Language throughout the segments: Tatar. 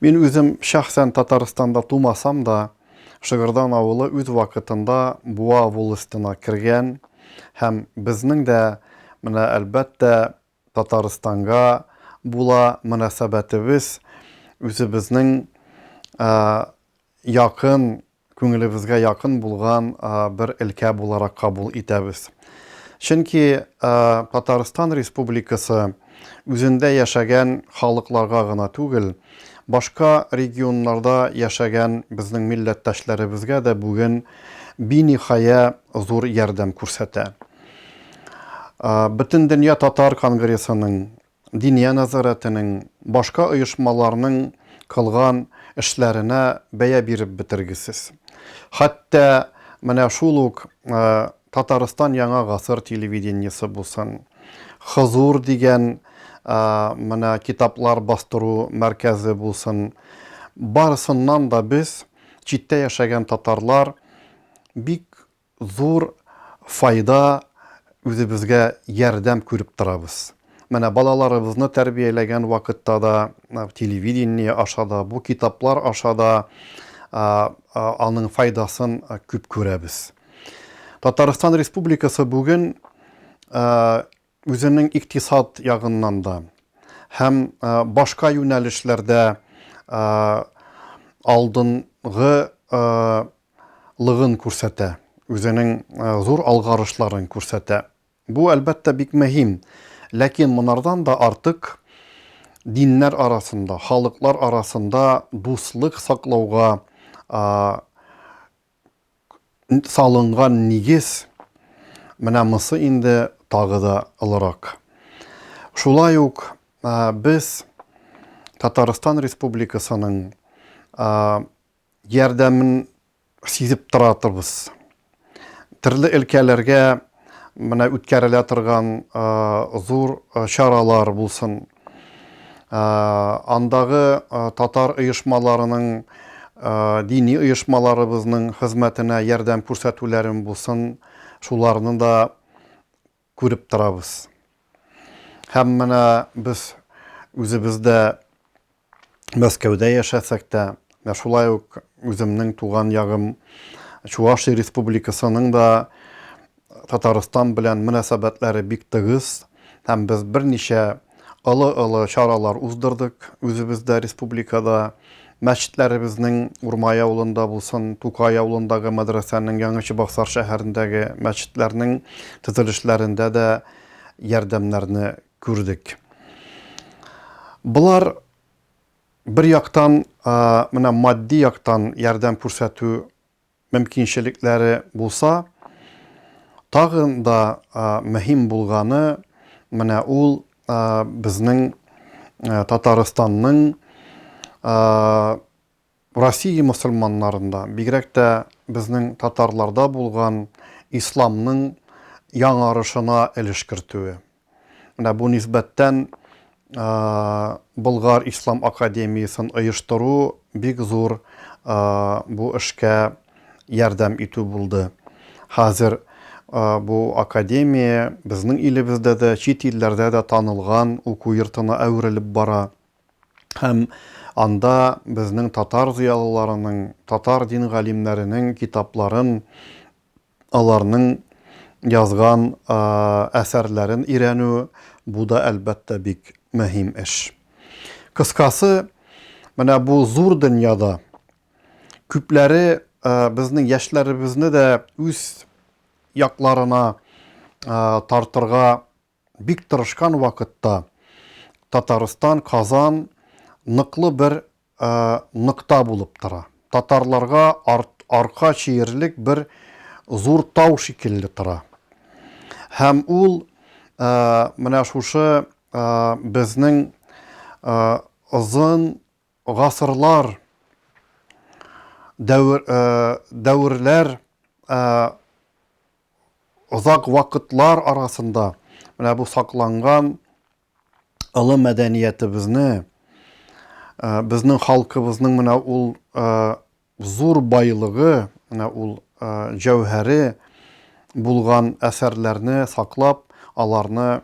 Мин үзем шәхсән Татарстанда тумасам да, Шыгырдан авылы үз вакытында Буа волостена кергән һәм безнең дә менә, әлбәттә, Татарстанга була мөнәсәбәтебез үзебезнең якын күңелебезгә якын булган бер өлкә буларак кабул итәбез. Чөнки Татарстан Республикасы үзендә яшәгән халыкларга гына түгел, башка регионнарда яшәгән безнең милләттәшләребезгә дә бүген биниһая зур ярдәм күрсәтә. Бөтендөнья татар конгрессының Диния нәзарәтенең, башка оешмаларның кылган эшләренә бәя биреп бетергесез. Хәтта менә шул ук Татарстан Яңа гасыр телевидениесе булсын, Хозур дигән менә китаплар бастыру мәркәзе булсын, барысыннан да без, читтә яшәгән татарлар, бик зур файда, үзебезгә ярдәм күреп торабыз. Менә балаларыбызны тәрбияләгән вакытта да, телевидение аша да, бу китаплар аша да аның файдасын күп күрәбез. Татарстан Республикасы бүген Үзенең икътисад ягыннан да һәм башка юнәлешләрдә алдынгы лыгын күрсәтә, үзенең зур алгарышларын күрсәтә. Бу, әлбәттә, бик мөһим. Ләкин монардан да артык диннәр арасында, халыклар арасында дуслык саклауга салынган нигез менә мосы инде тагы да олырак. Шулай ук без Татарстан Республикасының ярдәмен сизеп тора торбыз. Төрле өлкәләргә менә үткәрелә торган зур чаралар булсын, Андагы татар оешмаларының, дини оешмаларыбызның хезмәтенә ярдәм күрсәтүләрен булсын, шуларны да күреп торабыз. Һәм менә без үзебез дә Мәскәүдә яшәсәк тә, менә шулай ук үземнең туган ягым Чувашия Республикасының да Татарстан белән мөнәсәбәтләре бик тыгыз һәм без берничә олы-олы чаралар уздырдык үзебездә, республикада. Мәчетләребезнең Урмай авылында булсын, Тукай авылындагы мәдрәсәнең, Яңа Чыбаксар шәһәрендәге мәчетләрнең төзелешләрендә дә ярдәмнәрне күрдек. Болар бер яктан менә матди яктан ярдәм күрсәтү мөмкинчелекләре булса, тагын да мөһим булганы, менә ул безнең Татарстанның Россия мөселманнарында, бигрәк тә безнең татарларда булган исламның яңарышына өлеш кертүе. Менә бу нисбәттән Болгар ислам академиясен оештыру бик зур бу эшкә ярдәм итү булды. Хәзер бу академия безнең илебездә дә, чит илләрдә дә танылган уку йортына әверелеп бара. Һәм анда безнең татар зыялыларының, татар дин галимнәренең китапларын Аларның язган әсәрләрен өйрәнү, бу да, әлбәттә, бик мөһим эш. Кыскасы, менә бу зур дөньяда күпләре безнең яшьләребезне дә үз якларына тартырга бик тырышкан вакытта Татарстан, Казан ныклы бер нокта булып тора. Татарларга арка чиерлек бер зур тау шикелле тора. Һәм ул менә шушы безнең озын Гасырлар, дәвер, дәверләр, озак вакытлар арасында менә бу сакланган олы мәдәниятебезне, безнең халкыбызның менә ул Зур байлыгы, менә ул җәүһәре булган әсәрләрне саклап, аларны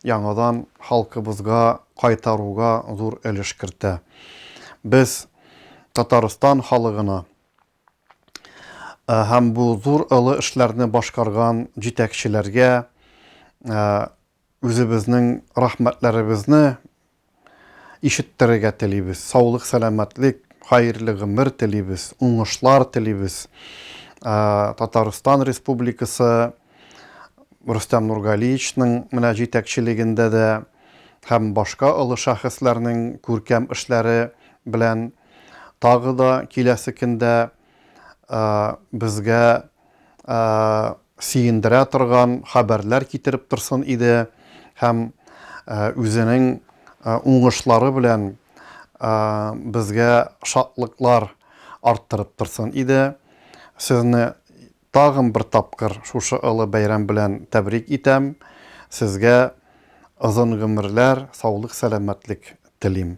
яңадан халкыбызга кайтаруга зур өлеш кертә. Без Татарстан халыгына һәм бу зур олы эшләрне башкарган җитәкчеләргә Үзебезнең рәхмәтләребезне ишеттерергә телибез. Саулык, сәламәтлек, хаерле гомер телибез, уңышлар телибез. Татарстан Республикасы Рөстәм Нургалиевичның менә җитәкчелегендә дә һәм башка олы шәхесләрнең күркәм эшләре белән тагы да киләсе көндә безгә сөендерә торган хәбәрләр китереп торсын иде һәм үзенең уңышлары белән безгә шатлыклар арттырып торсын иде. Сезне тагын бер тапкыр шушы олы бәйрәм белән тәбрик итәм. Сезгә озын гомерләр, саулык-сәламәтлек телим.